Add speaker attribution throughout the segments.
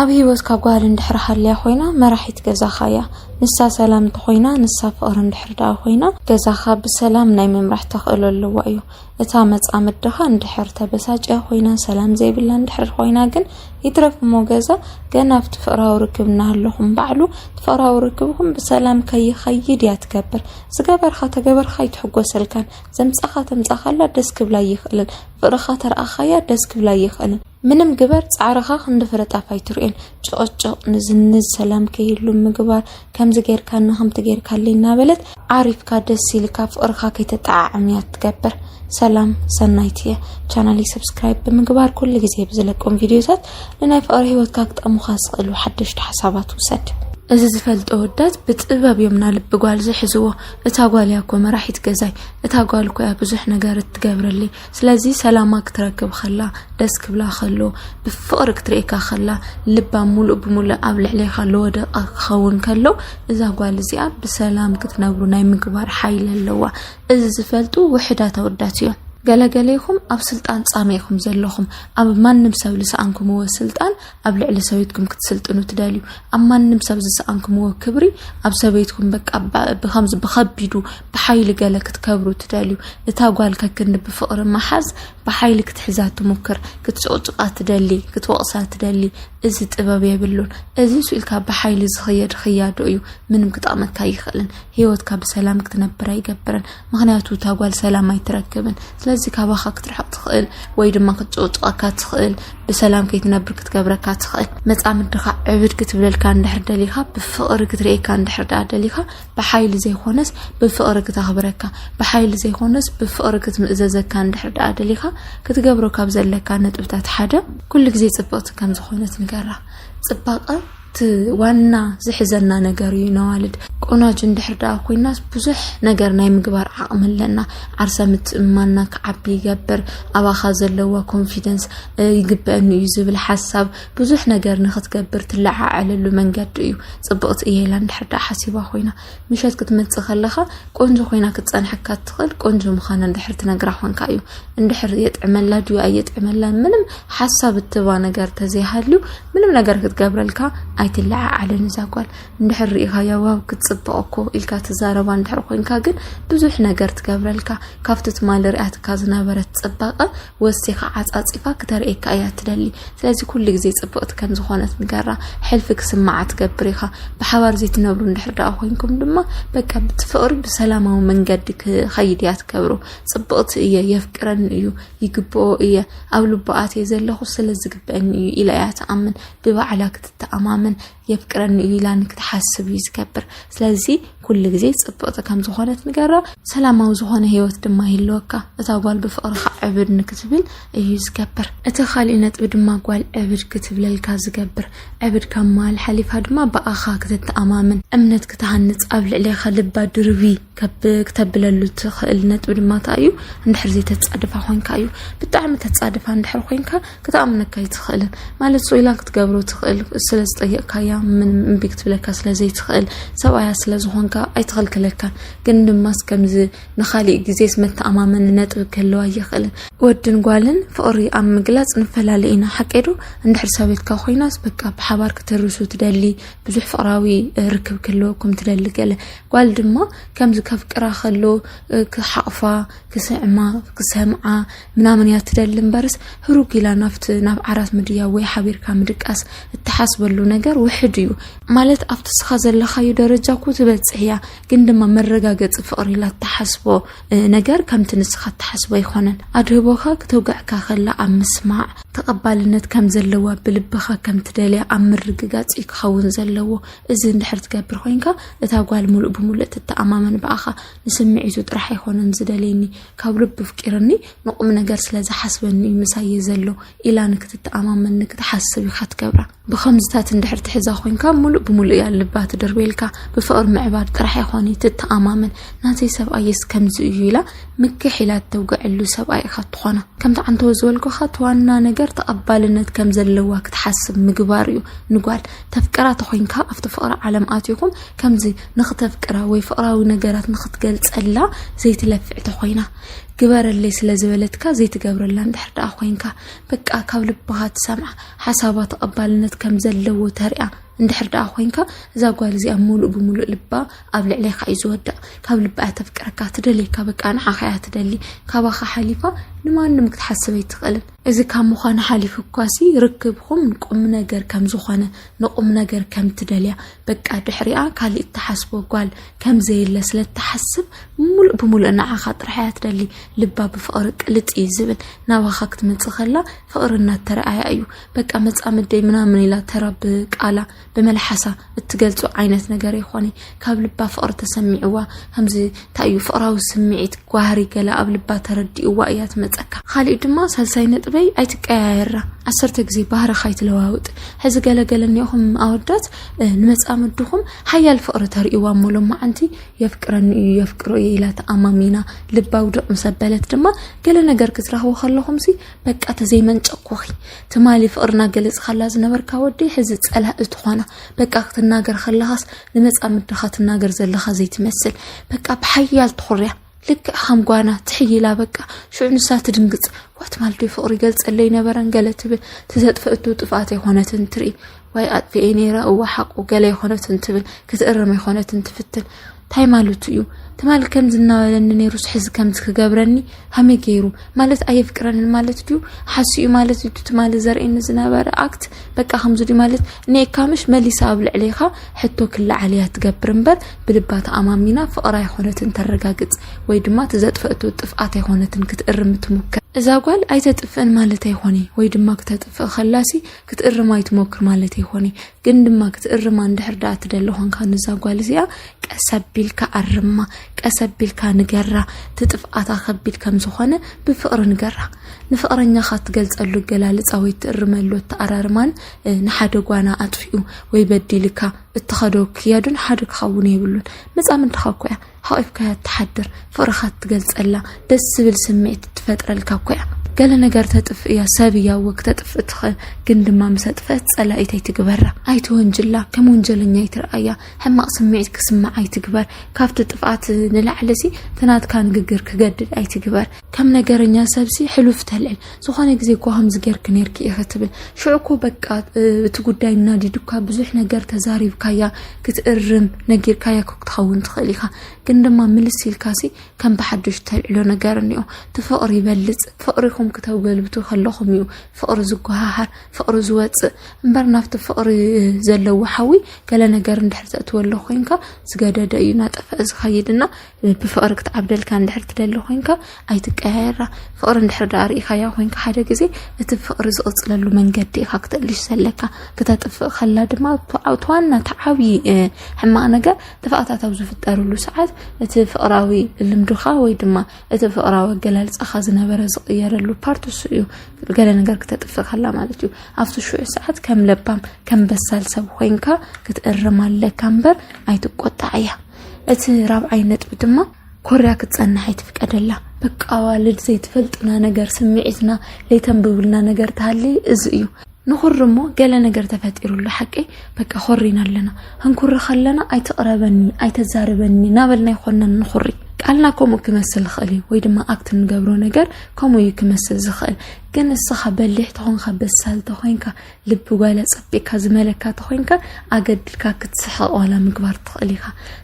Speaker 1: ኣብ ሂወትካ ጓል እንድሕር ሃልያ ኮይና መራሒት ገዛኻ እያ። ንሳ ሰላም እንተኾይና ንሳ ፍቕሪ እንድሕር ደኣ ኮይና ገዛኻ ብሰላም ናይ ምምራሕ ተኽእሎ ኣለዋ እዩ። እታ መጻምድ ድኻ እንድሕር ተበሳጭያ ኮይና ሰላም ዘይብላ እንድሕር ኮይና ግን ይትረፍ እሞ ገዛ ገና ኣብቲ ፍቕራዊ ርክብ እናሃለኹም ባዕሉ እቲ ፍቕራዊ ርክብኹም ብሰላም ከይኸይድ እያ ትገብር። ዝገበርኻ ተገበርኻ ኣይትሕጎሰልካን። ዘምጻኻ ተምጻኻላ ደስ ክብላ ኣይኽእልን። ፍቕርኻ ተርኣኻያ ደስ ክብላ ኣይኽእልን። ምንም ግበር ፃዕርኻ ክንዲ ፍረ ጣፍ ኣይትርእዮን ጭቕጭቕ ንዝንዝ ሰላም ከይህሉ ምግባር ከምዚ ጌርካኒ ከምቲ ጌርካለይ እናበለት ዓሪፍካ ደስ ኢልካ ፍቕርኻ ከይተጠዓዕም እያ ትገብር ሰላም ሰናይት እየ ቻናለይ ሰብስክራይብ ብምግባር ኩሉ ግዜ ብዝለቆም ቪድዮታት ንናይ ፍቕሪ ህይወትካ ክጠሙኻ ዝኽእሉ ሓደሽቲ ሓሳባት ውሰድ እዚ ዝፈልጦ ወዳት ብጥበብ እዮም ና ልቢ ጓል ዝሕዝዎ እታ ጓል እያ እኮ መራሒት ገዛይ እታ ጓል እኮ እያ ብዙሕ ነገር እትገብረለይ ስለዚ ሰላማ ክትረክብ ከላ ደስ ክብላ ከሎ ብፍቕሪ ክትርእየካ ከላ ልባ ሙሉእ ብሙሉእ ኣብ ልዕሌኻ ለወደቐ ክኸውን ከሎ እዛ ጓል እዚኣ ብሰላም ክትነብሩ ናይ ምግባር ሓይሊ ኣለዋ። እዚ ዝፈልጡ ውሕዳት ኣወዳት እዮም። ገለገሌኹም ኣብ ስልጣን ጻመ ኢኹም ዘለኹም ኣብ ማንም ሰብ ዝሰኣንኩምዎ ስልጣን ኣብ ልዕሊ ሰበይትኩም ክትስልጥኑ ትደልዩ ኣብ ማንም ሰብ ዝሰኣንኩምዎ ክብሪ ኣብ ሰበይትኩም በቃ ብከምዚ ብከቢዱ ብሓይሊ ገለ ክትከብሩ ትደልዩ። እታ ጓል ከክንዲ ብፍቕሪ ምሓዝ ብሓይሊ ክትሕዛ ትሙክር፣ ክትጭቕጭቓ ትደሊ፣ ክትወቕሳ ትደሊ። እዚ ጥበብ የብሉን። እዚ ስኢልካ ብሓይሊ ዝኽየድ ኽያዶ እዩ። ምንም ክጠቕመካ ኣይኽእልን። ህይወትካ ብሰላም ክትነብር ኣይገብርን። ምክንያቱ እታ ጓል ሰላም ኣይትረክብን። ስለዚ ካባኻ ክትርሕቕ ትኽእል ወይ ድማ ክትጭቕጭቐካ ትኽእል፣ ብሰላም ከይትነብር ክትገብረካ ትኽእል። መጻምድኻ ዕብድ ክትብለልካ እንድሕር ደሊኻ፣ ብፍቕሪ ክትርእየካ እንድሕር ደኣ ደሊኻ ብሓይሊ ዘይኮነስ ብፍቕሪ ክተኽብረካ፣ ብሓይሊ ዘይኮነስ ብፍቕሪ ክትምእዘዘካ እንድሕር ደኣ ደሊኻ፣ ክትገብሮ ካብ ዘለካ ነጥብታት ሓደ፣ ኩሉ ግዜ ጽብቕቲ ከም ዝኾነት ንገራ። ጽባቐ እቲ ዋና ዝሕዘና ነገር እዩ። ነዋልድ ቆናጁ እንድሕር ደኣ ኮይናስ ብዙሕ ነገር ናይ ምግባር ዓቕሚ ኣለና። ዓርሰ ምትእምማንና ክዓቢ ይገብር፣ ኣባኻ ዘለዋ ኮንፊደንስ ይግበአኒ እዩ ዝብል ሓሳብ ብዙሕ ነገር ንክትገብር ትለዓዓለሉ መንገዲ እዩ ፅብቕቲ እየ ኢላ እንድሕር ደኣ ሓሲባ ኮይና ምሸት ክትመፅእ ከለኻ ቆንጆ ኮይና ክትፀንሐካ እትኽእል ቆንጆ ምዃና እንድሕር ትነግራ ኮንካ እዩ እንድሕር የጥዕመላ ድዩ ኣየጥዕመላ ምንም ሓሳብ እትባ ነገር ተዘይሃልዩ ምንም ነገር ክትገብረልካ ኣይትለዓዓልን እዛ ጓል እንድሕር ርኢኻያ ዋው ክትፅብቕ እኮ ኢልካ ትዛረባ እንድሕር ኮይንካ ግን ብዙሕ ነገር ትገብረልካ ካብቲ ትማሊ ሪኣትካ ዝነበረት ፅባቐ ወሲኻ ዓጻጺፋ ክተርእየካ እያ እትደሊ። ስለዚ ኩሉ ግዜ ጽብቕቲ ከም ዝኾነት ንገራ። ሕልፊ ክስምዓ ትገብር ኢኻ። ብሓባር ዘይትነብሩ እንድሕር ደኣ ኮይንኩም ድማ በቃ ብቲ ፍቕሪ ብሰላማዊ መንገዲ ክኸይድ እያ ትገብሮ። ጽብቕቲ እየ፣ የፍቅረኒ እዩ፣ ይግብኦ እየ፣ ኣብ ልቡ ኣትየ ዘለኹ ስለ ዝግብአኒ እዩ ኢላ እያ ትኣምን። ብባዕላ ክትተኣማመን የፍቅረኒ እዩ ኢላ ንክትሓስብ እዩ ዝገብር ስለዚ ኩሉ ግዜ ፅብቕቲ ከም ዝኾነት ንገራ ሰላማዊ ዝኾነ ህይወት ድማ ይህልወካ እታ ጓል ብፍቕርካ ዕብድ ንክትብል እዩ ዝገብር እቲ ካሊእ ነጥቢ ድማ ጓል ዕብድ ክትብለልካ ዝገብር ዕብድ ካብ መሃል ሓሊፋ ድማ ብኣኻ ክትተኣማምን እምነት ክትሃንፅ ኣብ ልዕሌኻ ልባ ድርቢ ከብ ክተብለሉ ትኽእል ነጥቢ ድማ እንታይ እዩ እንድሕር ዘይተፃድፋ ኮንካ እዩ ብጣዕሚ ተፃድፋ እንድሕር ኮንካ ክትኣምነካ ኣይትኽእልን ማለት ሶይላ ክትገብሮ ትኽእል ስለ ዝጠየቕካያ ምን እምቢ ክትብለካ ስለ ዘይትኽእል ሰብኣያ ስለ ዝኾንካ ኣይትኽልክለካን ግን ድማስ ከምዚ ንኻሊእ ግዜስ መተኣማመኒ ነጥቢ ክህልዋ ኣይኽእልን ወድን ጓልን ፍቕሪ ኣብ ምግላፅ ንፈላለ ኢና ሓቄዶ እንድሕር ሰበይትካ ኮይናስ በቃ ብሓባር ክትርሱ ትደሊ ብዙሕ ፍቕራዊ ርክብ ክህልወኩም ትደሊ ገለ ጓል ድማ ከምዚ ከፍቅራ ከሎ ክሓቕፋ ክስዕማ ክሰምዓ ምናምን እያ ትደሊ እምበርስ ህሩግ ኢላ ናብቲ ናብ ዓራት ምድያ ወይ ሓቢርካ ምድቃስ እትሓስበሉ ነገር ውሕድ እዩ ማለት ኣብቲ እስኻ ዘለኻዩ ደረጃ እኮ ትበፅሕ እያ ግን ድማ መረጋገፂ ፍቕሪ ኢላ እትሓስቦ እ፣ ነገር ከምቲ ንስኻ እትሓስቦ ኣይኮነን ኣድህቦኻ ክተውግዐካ ከላ ኣብ ምስማዕ ተቐባልነት ከም ዘለዋ ብልብኻ ከም ትደልያ ኣብ ምርግጋፅ እዩ ክኸውን ዘለዎ እዚ እንድሕር ትገብር ኮይንካ እታ ጓል ሙሉእ ብሙሉእ ትተኣማመን ብኣኻ ንስምዒቱ ጥራሕ ኣይኮነን ዝደልየኒ ካብ ልቡ ፍቂርኒ ንቁም ነገር ስለ ዝሓስበኒ እዩ ምሳየ ዘሎ ኢላ ንክትተኣማመን ንክትሓስብ ኢኻ ትገብራ ብከምዝታት እንድሕር ትሕዛ ኮይንካ ሙሉእ ብሙሉእ እያ ልባ ትድርቤልካ ብፍቕሪ ምዕባር ጥራሕ ኣይኮነ ትተኣማመን ናተይ ሰብኣየስ ከምዚ እዩ ኢላ ምክሕ ኢላ እተውግዐሉ ሰብኣይ ኢኻ ትኾና ከምቲ ዓንተወ ዝበልኩኻ እቲ ዋና ነገር ተቐባልነት ከም ዘለዋ ክትሓስብ ምግባር እዩ ንጓል ተፍቅራ ተኾይንካ ኣብቲ ፍቕሪ ዓለም ኣትኹም ከምዚ ንኽተፍቅራ ወይ ፍቕራዊ ነገራት ንኽትገልጸላ ዘይትለፍዕ ተኾይና ግበረለይ ስለ ዝበለትካ ዘይትገብረላ እንድሕር ደኣ ኮይንካ በቃ ካብ ልባኻ ትሰምዓ ሓሳባ ተቐባልነት ከም ዘለዎ ተሪኣ እንድሕር ደኣ ኮይንካ እዛ ጓል እዚኣ ሙሉእ ብምሉእ ልባ ኣብ ልዕሌካ እዩ ዝወድቕ ካብ ልባ እያ ተፍቅረካ ትደልየካ በቃ ንዓኻ እያ ትደሊ ካባኻ ሓሊፋ ንማንም ክትሓስብ ኣይትኽእልን እዚ ካብ ምዃኑ ሓሊፉ እኳሲ ርክብኹም ቁምነገር ከም ዝኾነ ንቁምነገር ከም ትደልያ በቃ ድሕሪኣ ካልእ እትሓስቦ ጓል ከም ዘየለ ስለ እትሓስብ ምሉእ ብምሉእ ንዓኻ ጥራሕ እያ ትደሊ ልባ ብፍቕሪ ቅልጥ እዩ ዝብል ናባኻ ክትመጽእ ከላ ፍቕሪ እናተረኣያ እዩ በቃ መጻምደይ ምናምን ኢላ ተራ ብቃላ ብመልሓሳ እትገልጾ ዓይነት ነገር ይኾነ ካብ ልባ ፍቕሪ ተሰሚዕዋ ከምዚ እንታይ እዩ ፍቕራዊ ስምዒት ጓህሪ ገላ ኣብ ልባ ተረዲእዋ እያ ትመፀካ ካሊእ ድማ ሳልሳይ ነጥበይ ኣይትቀያየራ ዓሰርተ ግዜ ባህርኻ ኣይትለዋውጥ ሕዚ ገለገለ እኒኹም ኣወዳት ንመፃምድኹም ሓያል ፍቕሪ ተርእይዋ እሞ ሎማዓንቲ የፍቅረኒ እዩ የፍቅሮ እየ ኢላ ተኣማሚና ልባዊ ድቕ ምስ ኣበለት ድማ ገለ ነገር ክትረኽቡ ከለኹም ሲ በቃ ተዘይመንጨኩኺ ትማሊ ፍቅሪ እናገለፅካላ ዝነበርካ ወዲ ሕዚ ፀላእ እትኾና በቃ ክትናገር ከለኻስ ንመፃምድኻ ትናገር ዘለኻ ዘይትመስል በቃ ብሓያል ትኹርያ ልክዕ ከም ጓና ትሕይላ በቃ ሽዑ ንሳ ትድንግፅ ዋት ማልዶ ፍቅሪ ይገልፀለይ ነበረን ገለ ትብል ትዘጥፈእቱ ጥፍኣት ኣይኮነትን ትርኢ ዋይ ኣጥፍኤ ነይረ እዋ ሓቁ ገለ ኣይኮነትን ትብል ክትእረም ኣይኮነትን ትፍትን ታይ ማለቱ እዩ ትማል ከምዚ እናበለኒ ነይሩስ ሕዚ ከምዚ ክገብረኒ ሃመይ ገይሩ ማለት ኣየፍቅረንን ማለት ድዩ ሓሱ እዩ ማለት እዩ ትማል ዘርእየኒ ዝነበረ ኣክት በቃ ከምዚ ድዩ ማለት ንኤካምሽ መሊሳ ኣብ ልዕሌኻ ሕቶ ክለዓል እያ ትገብር እምበር ብልባ ተኣማሚና ፍቕራ ኣይኮነትን ተረጋግፅ ወይ ድማ ትዘጥፈእቶ ጥፍኣት ኣይኮነትን ክትእርም ትሙከር እዛ ጓል ኣይተጥፍእን ማለት ኣይኮነ ወይ ድማ ክተጥፍእ ከላሲ ክትእርም ኣይትሞክር ማለት ኣይኮነ ግን ድማ ክትእርማ እንድሕር ደኣ ትደሊ ኾንካ ንዛ ጓል እዚኣ ቀስ ኣቢልካ ኣርማ፣ ቀስ ኣቢልካ ንገራ እቲ ጥፍኣታ ከቢድ ከም ዝኾነ ብፍቕሪ ንገራ። ንፍቕረኛኻ እትገልጸሉ ኣገላልጻ ወይ እትእርመሉ ኣተኣራርማን እ፣ ንሓደ ጓና ኣጥፊኡ ወይ በዲልካ እትኸዶ ክያዱን ሓደ ክኸውን የብሉን። መጻምድትኻ እኮ እያ። ሓቂፍካያ ትሓድር ፍቅርካ ትገልፀላ ደስ ዝብል ስምዒት ትፈጥረልካ እኮ እያ ገለ ነገር ተጥፍ እያ ሰብ እያ እወ ክተጥፍእ ትኽእል ግን ድማ ምስ ኣጥፍአት ፀላኢት ኣይትግበራ ኣይትወንጅላ ከም ወንጀለኛ ኣይትርኣያ ሕማቅ ስምዒት ክስምዕ ኣይትግበር ካብቲ ጥፍኣት ንላዕሊ ሲ ትናትካ ንግግር ክገድድ ኣይትግበር ከም ነገረኛ ሰብሲ ሕሉፍ ተልዕል ዝኾነ ግዜ እኮ ከምዚ ጌርኪ ኔርኪ ኢኺ ትብል ሽዑ እኮ በቃ እቲ ጉዳይ እናዲዱካ ብዙሕ ነገር ተዛሪብካያ ክትእርም ነጊርካያ ክትኸውን ትኽእል ኢኻ ግን ድማ ምልስ ኢልካሲ ከም ብሓድሽ ተልዕሎ ነገር እኒኦ እቲ ፍቕሪ ይበልፅ ፍቕሪኹም ክተገልብቱ ከለኹም እዩ ፍቕሪ ዝጓሃሃር ፍቕሪ ዝወፅእ እምበር ናብቲ ፍቕሪ ዘለዎ ሓዊ ገለ ነገር እንድሕር ዘእትወሎ ኮይንካ ዝገደደ እዩ ናጠፈ ዝኸይድና ብፍቕሪ ክትዓብደልካ እንድሕር ትደሊ ኮንካ ኣይትቀያየራ ፍቕሪ እንድሕር ደኣ ርኢኻያ ኮንካ ሓደ ግዜ እቲ ፍቕሪ ዝቕፅለሉ መንገዲ ኢኻ ክትእልሽ ዘለካ ክተጥፍእ ከላ ድማ እቲ ዋና እቲ ዓብዪ ሕማቕ ነገር ጥፍኣታት ኣብ ዝፍጠርሉ ሰዓት እቲ ፍቕራዊ ልምድኻ ወይ ድማ እቲ ፍቕራዊ ኣገላልፃኻ ዝነበረ ዝቕየረሉ ፓርት እሱ እዩ ገለ ነገር ክተጥፍእ ከላ ማለት እዩ ኣብቲ ሽዑ ሰዓት ከም ለባም ከም በሳል ሰብ ኮንካ ክትእርም ኣለካ እምበር ኣይትቆጣዕ እያ እቲ ራብዓይ ነጥቢ ድማ ኮርያ ክትጸንሕ ኣይትፍቀደላ። በቃ ኣዋልድ ዘይትፈልጡና ነገር ስምዒትና ዘይተንብብልና ነገር ተሃሊ እዚ እዩ ንኹሪ እሞ ገለ ነገር ተፈጢሩሉ ሓቂ በቃ ኮሪና ኣለና ህንኩሪ ከለና ኣይትቕረበኒ ኣይተዛርበኒ ናበልና ይኮነን ንኹሪ ቃልና ከምኡ ክመስል ዝኽእል እዩ ወይ ድማ ኣብቲ ንገብሮ ነገር ከምኡ እዩ ክመስል ዝኽእል ግን እስኻ በሊሕ ተኾንካ በሳል ተኾይንካ ልቢ ጓል ኣጸቢቅካ ዝመለካ ተኾይንካ ኣገድድካ ክትስሕቕ ዋላ ምግባር ትኽእል ኢኻ።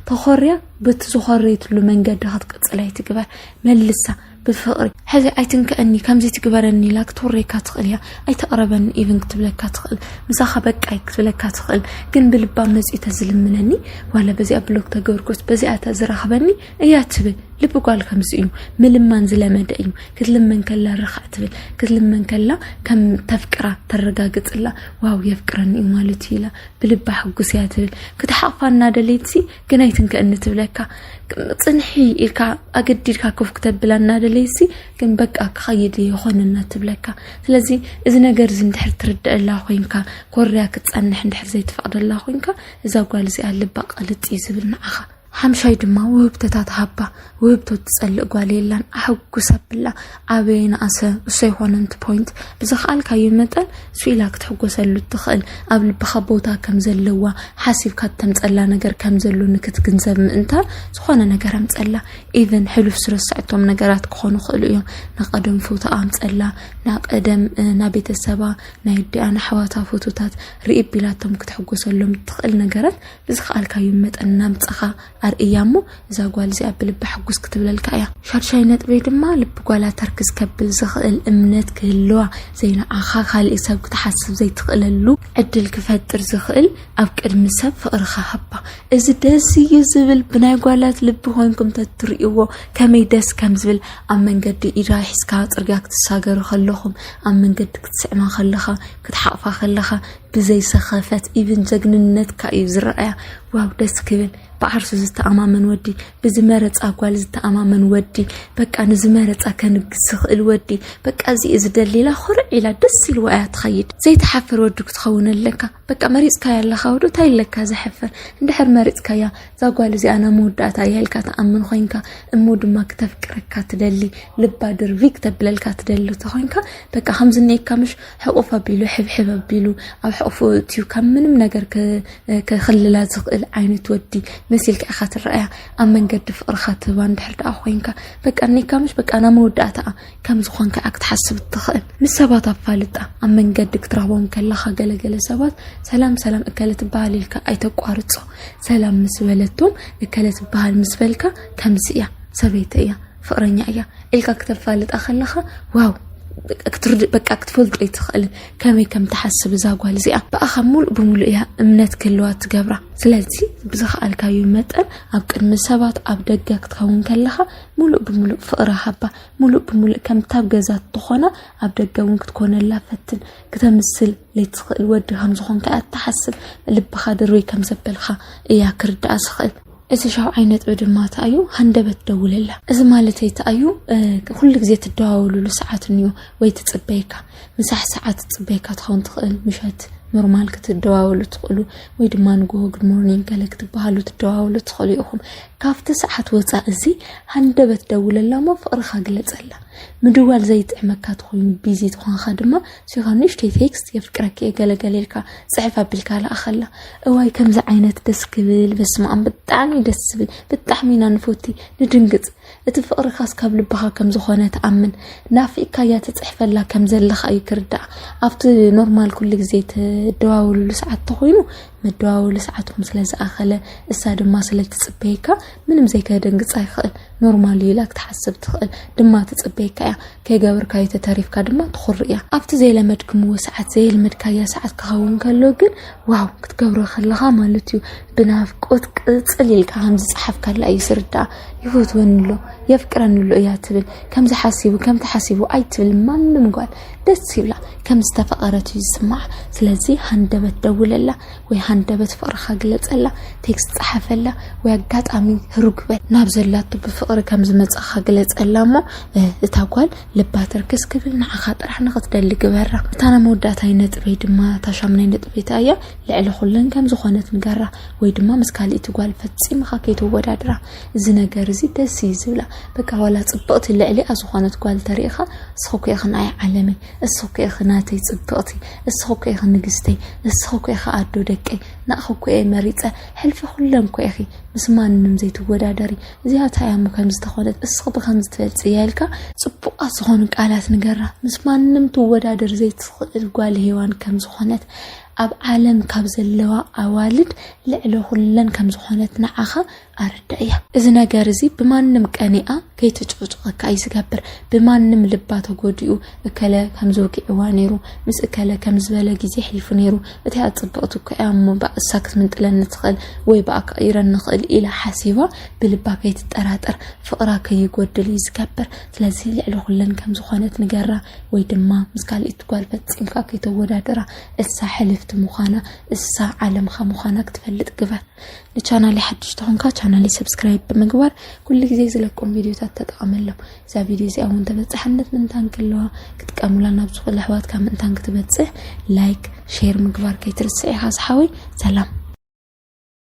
Speaker 1: ተኾርያ በቲ ዝኾረየትሉ መንገዲ ክትቅጽል ኣይትግበር። መልሳ ብፍቕሪ ሕዚ ኣይትንከእኒ ከምዚ ትግበረኒ ኢላ ክትውረየካ ትኽእል እያ። ኣይተቕረበኒ ኢቭን ክትብለካ ትኽእል። ምሳኻ በቃይ ክትብለካ ትኽእል። ግን ብልባ መጺኡ ተዝልምነኒ ዋላ በዚኣ ብሎክ ተገብርኩስ በዚኣ ተዝራኽበኒ እያ ትብል ልቢ ጓል ከምዚ እዩ ምልማን ዝለመደ እዩ ክትልመን ከላ ርኻዕ ትብል ክትልመን ከላ ከም ተፍቅራ ተረጋግፅላ ዋው የፍቅረኒ እዩ ማለት እዩ ኢላ ብልባ ሕጉስ እያ ትብል ክትሓቕፋ እናደለይትሲ ግን ኣይትንከእኒ ትብለካ ፅንሒ ኢልካ ኣገዲድካ ክፍ ክተብላ እናደለይሲ ግን በቃ ክኸይድ ይኾነና ትብለካ ስለዚ እዚ ነገር እዚ እንድሕር ትርድአላ ኮንካ ኮርያ ክትፀንሕ እንድሕር ዘይትፈቕደላ ኮንካ እዛ ጓል እዚኣ ልባ ቐልጥ እዩ ዝብል ንዓኻ ሓምሻይ ድማ ውህብቶታ ትሃባ ውህብቶ ትጸልእ ጓል የላን ኣሕጉስ ኣብላ ኣበየ ንኣሰ እሶ ይኾነንቲ ፖይንት ብዝኸኣልካዮ መጠን ስኢላ ክትሕጎሰሉ እትኽእል ኣብ ልብኻ ቦታ ከም ዘለዋ ሓሲብካ እተምጸላ ነገር ከም ዘሎ ንክትግንዘብ ምእንታን ዝኾነ ነገር ኣምጸላ ኢቨን ሕሉፍ ዝረሰዐቶም ነገራት ክኾኑ ክእሉ እዮም ናቀደም ፎቶ ኣምጸላ ናቀደም ና ቤተሰባ ናይ ኣዲኣ ንኣሕዋታ ፎቶታት ርኢ ቢላቶም ክትሕጎሰሎም እትኽእል ነገራት ብዝኸኣልካዮ መጠን ናምጻኻ ኣርእያ እሞ እዛ ጓል እዚኣ ብልባ ሕጉስ ክትብለልካ እያ። ሻድሻይ ነጥበይ ድማ ልቢ ጓላ ተርክዝ ከብል ዝኽእል እምነት ክህልዋ ዘይንዓኻ ካልእ ሰብ ክትሓስብ ዘይትኽእለሉ ዕድል ክፈጥር ዝኽእል ኣብ ቅድሚ ሰብ ፍቕርኻ ሃባ። እዚ ደስ እዩ ዝብል ብናይ ጓላት ልቢ ኮይንኩም ተትርእይዎ ከመይ ደስ ከም ዝብል ኣብ መንገዲ ኢዳ ሒዝካ ጽርግያ ክትሳገሩ ከለኹም ኣብ መንገዲ ክትስዕማ ከለኻ ክትሓቕፋ ከለኻ ብዘይ ሰኸፈት ኢቭን ጀግንነትካ እዩ ዝረኣያ ዋው ደስ ክብል ብዓርሱ ዝተኣማመን ወዲ ብዝመረፃ ጓል ዝተኣማመን ወዲ በቃ ንዝመረፃ ከንግስ ዝኽእል ወዲ በቃ እዚ እዩ ዝደሊላ ኩርዕ ኢላ ደስ ኢልዋ እያ ትኸይድ ዘይተሓፍር ወዲ ክትኸውን ኣለካ በቃ መሪፅካያ ኣለካ ወዶ እንታይ ኣለካ ዘሕፍር እንድሕር መሪፅካያ እዛ ጓል እዚኣ ናብ መወዳእታ እያ ኢልካ ትኣምን ኮይንካ እሞ ድማ ክተፍቅረካ ትደሊ ልባ ድርቢ ክተብለልካ ትደሊ ተኮይንካ በቃ ከምዝነየካ ምሽ ሕቁፍ ኣቢሉ ሕብሕብ ኣቢሉ ኣብ ሕቁፉ እትዩ ካብ ምንም ነገር ክክልላ ዝኽእል ዓይነት ወዲ መሲልካ ኢኻ ትረኣያ ኣብ መንገዲ ፍቅርካ ትህባ እንድሕር ደኣ ኮይንካ በቃ ኒካ ምሽ በቃ ናብ መወዳእታኣ ከም ዝኾንካ እያ ክትሓስብ እትኽእል ምስ ሰባት ኣፋልጣ ኣብ መንገዲ ክትረኽቦም ከለኻ ገለገለ ሰባት ሰላም ሰላም እከለ ትበሃል ኢልካ ኣይተቋርፆ ሰላም ምስ በለቶም እከለ ትበሃል ምስ በልካ ከምዚ እያ ሰበይቲ እያ ፍቕረኛ እያ ኢልካ ክተፋልጣ ከለኻ ዋው ክትርድእ በቃ ክትፈልጦ ኣይትኽእልን ከመይ ከም ትሓስብ እዛ ጓል እዚኣ ብኣኻ ሙሉእ ብምሉእ እያ እምነት ክህልዋ ትገብራ ስለዚ ብዝኸኣልካዩ መጠን ኣብ ቅድሚ ሰባት ኣብ ደገ ክትኸውን ከለኻ ሙሉእ ብምሉእ ፍቕሪ ሃባ ሙሉእ ብምሉእ ከምታብ ገዛ ትኾና ኣብ ደገ እውን ክትኮነላ ፈትን ክተምስል ለይትኽእል ወዲ ከም ዝኾንካ እያ ትሓስብ ልብኻ ድርበይ ከም ዘበልካ እያ ክርዳኣ ዝኽእል እቲ ሻብዓይ ነጥቢ ድማ እታ እዩ ሃንደበት ደውለላ እዚ ማለት እታ እዩ ኩሉ ግዜ ትደዋወሉሉ ሰዓት እንዮ ወይ ትፅበየካ ምሳሕ ሰዓት ትፅበየካ ትኸውን ትኽእል ምሸት ኖርማል ክትደዋወሉ ትኽእሉ ወይ ድማ ንጎሆ ጉድ ሞርኒንግ ገለ ክትበሃሉ ትደዋወሉ ትኽእሉ ኢኹም ካብቲ ሰዓት ወፃእ እዚ ሃንደበት ደውለላ እሞ ፍቕርኻ ግለፀላ ምድዋል ዘይጥዕመካ ትኾይኑ ቢዚ ትኾንካ ድማ ሲሆን ንእሽተይ ቴክስት የፍቅረኪ እየ ገለገለ ኢልካ ፅሕፍ ኣቢልካ ለኣኸላ እዋይ ከምዚ ዓይነት ደስ ክብል በስመኣም ብጣዕሚ ደስ ዝብል ብጣዕሚ ኢና ንፎቲ ንድንግፅ እቲ ፍቅርካስ ካብ ልብኻ ከም ዝኾነ ትኣምን ናፊቅካ እያ ትፅሕፈላ ከም ዘለኻ እዩ ክርዳእ ኣብቲ ኖርማል ኩሉ ግዜ ትደዋውልሉ ሰዓት ተኮይኑ መደዋወሊ ሰዓትኩም ስለ ዝኣኸለ እሳ ድማ ስለ ትፅበየካ ምንም ዘይከደንግጻ ይኽእል ኖርማል እዩ ኢላ ክትሓስብ ትኽእል ድማ ትጽበየካ እያ ከይገበርካዮ ተተሪፍካ ድማ ትኹር እያ ኣብቲ ዘይለመድክምዎ ሰዓት ዘየልመድካያ ሰዓት ክኸውን ከሎ ግን ዋው ክትገብሮ ከለኻ ማለት እዩ ብናፍቆት ቅጽል ኢልካ ከም ዝጸሓፍካላ እዩ ዝርዳእ ይፈትወኒ ኣሎ የፍቅረኒ ኣሎ እያ ትብል ከምዚ ሓሲቡ ከምቲ ሓሲቡ ኣይትብል ማንም ጓል ደስ ይብላ ከም ዝተፈቐረት እዩ ዝስማዓ ስለዚ ሃንደበት ደውለላ ወይ ሃንደበት ፍቕርኻ ግለጸላ፣ ቴክስት ጸሓፈላ፣ ወይ ኣጋጣሚ ህሩግ በል። ናብ ዘላቶ ብፍቕሪ ከም ዝመጻኻ ግለጸላ እሞ እታ ጓል ልባ ትርክስ ክብል ንዓኻ ጥራሕ ንኽትደሊ ግበራ። እታ ናይ መወዳእታይ ነጥበይ ድማ እታ ሻሙናይ ነጥበይ እታ እያ፣ ልዕሊ ኩለን ከም ዝኾነት ንገራ፣ ወይ ድማ ምስ ካልእቲ ጓል ፈጺምኻ ከይተወዳድራ። እዚ ነገር እዚ ደስ እዩ ዝብላ። በቃ ዋላ ጽብቕቲ ልዕሊኣ ዝኾነት ጓል ተሪእኻ እስኺ እኮ ኢኺ ንኣይ ዓለመይ፣ እስኺ እኮ ኢኺ ናተይ ጽብቕቲ፣ እስኺ እኮ ኢኺ ንግስተይ እስኺ እኮ ኢኺ ኣዶ ደቀይ ናእኺ እኮ እየ መሪፀ ሕልፊ ኩለን እኮ ኢኺ ምስ ማንም ዘይትወዳደሪ እዚኣ እንታይ እያ እሞ ከምዚ ተኾነት እስኺ ብከምዚ ትበልፂ እያ ኢልካ ፅቡቃት ዝኾኑ ቃላት ንገራ ምስ ማንም ትወዳደር ዘይትኽእል ጓል ሄዋን ከም ዝኾነት ኣብ ዓለም ካብ ዘለዋ ኣዋልድ ልዕሊ ኩለን ከም ዝኾነት ንዓኻ ኣረዳእያ። እዚ ነገር እዚ ብማንም ቀኒኣ ከይትጭቕጭቐካ እዩ ዝገብር። ብማንም ልባ ተጎዲኡ እከለ ከምዚ ውጊዕዋ ነይሩ፣ ምስ እከለ ከም ዝበለ ግዜ ኣሕሊፉ ነይሩ፣ እቲኣ ጽብቕቲ እኮ እያ እሞ በኣ እሳ ክትምንጥለኒ ትኽእል ወይ በኣ ክቕይረኒ ይኽእል ኢላ ሓሲባ ብልባ ከይትጠራጠር ፍቕራ ከይጎድል እዩ ዝገብር። ስለዚ ልዕሊ ኩለን ከም ዝኾነት ንገራ ወይ ድማ ምስ ካልኢት ጓል ፈጺምካ ከይተወዳድራ እሳ ሕልፍቲ ምዃና እሳ ዓለምኻ ምዃና ክትፈልጥ ግበር። ንቻናለይ ሓድሽ ተኾንካ ቻናለይ ሰብስክራይብ ብምግባር ኩሉ ግዜ ዝለቆም ቪድዮታት ተጠቐመሎም እዛ ቪድዮ እዚኣ እውን ተበፃሕነት ምንታን ክለዋ ክትቀምላ ናብ ዝኾነ ኣሕዋትካ ምእንታን ክትበፅሕ ላይክ ሼር ምግባር ከይትርስዕ ኢኻ ዝሓወይ ሰላም